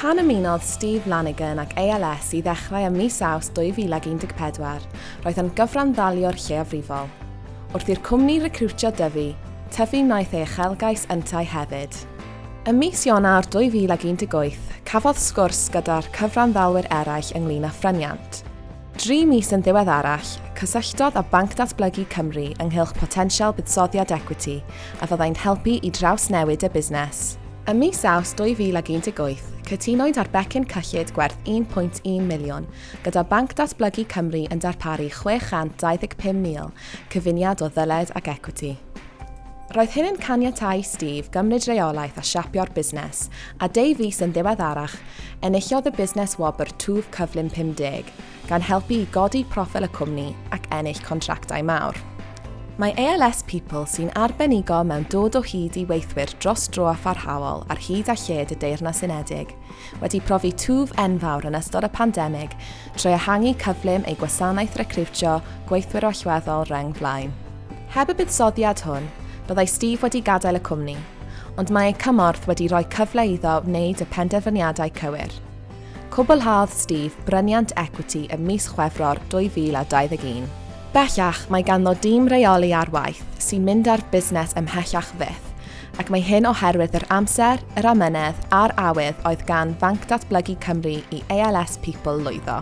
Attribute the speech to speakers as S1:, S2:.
S1: Pan ymunodd Steve Lanigan ac ALS i ddechrau ym mis Awst 2014, roedd yn gyfranddaliwr lleiafrifol. Wrth i'r cwmni recriwtio Dyfi, Tyfi wnaeth ei uchelgais yntau hefyd. Ym mis Ionawr 2018, cafodd sgwrs gyda'r cyfranddalwyr eraill ynglŷn â phryniant. Dri mis yn ddiweddarach, cysylltodd â Banc Datblygu Cymru ynghylch potensial buddsoddiad ecwiti a fyddai'n helpu i drawsnewid y busnes. Ym mis Awst 2018, cytunwyd ar becyn cyllid gwerth £1.1 miliwn, gyda Banc Datblygu Cymru yn darparu 625,000 cyfuniad o ddyled ac ecwiti. Roedd hyn yn caniatáu i Steve gymryd reolaeth a siapio'r busnes, a deu fis yn ddiweddarach, enillodd y busnes wobr Twf Cyflym 50, gan helpu i godi proffil y cwmni ac ennill contractau mawr. Mae ALS People, sy'n arbenigo mewn dod o hyd i weithwyr dros dro a pharhaol ar hyd a lled y Deyrnas Unedig, wedi profi twf enfawr yn ystod y pandemig trwy ehangu cyflym ei gwasanaeth recriwtio gweithwyr allweddol reng flaen. Heb y buddsoddiad hwn, byddai Steve wedi gadael y cwmni, ond mae ei cymorth wedi rhoi cyfle iddo wneud y penderfyniadau cywir. Cwblhaodd Steve bryniant ecwiti ym mis Chwefror 2021. Bellach, mae ganddo dîm rheoli ar waith sy'n mynd â'r busnes ymhellach fyth, ac mae hyn oherwydd yr amser, yr amynedd a'r awydd oedd gan Fanc Datblygu Cymru i ALS People lwyddo.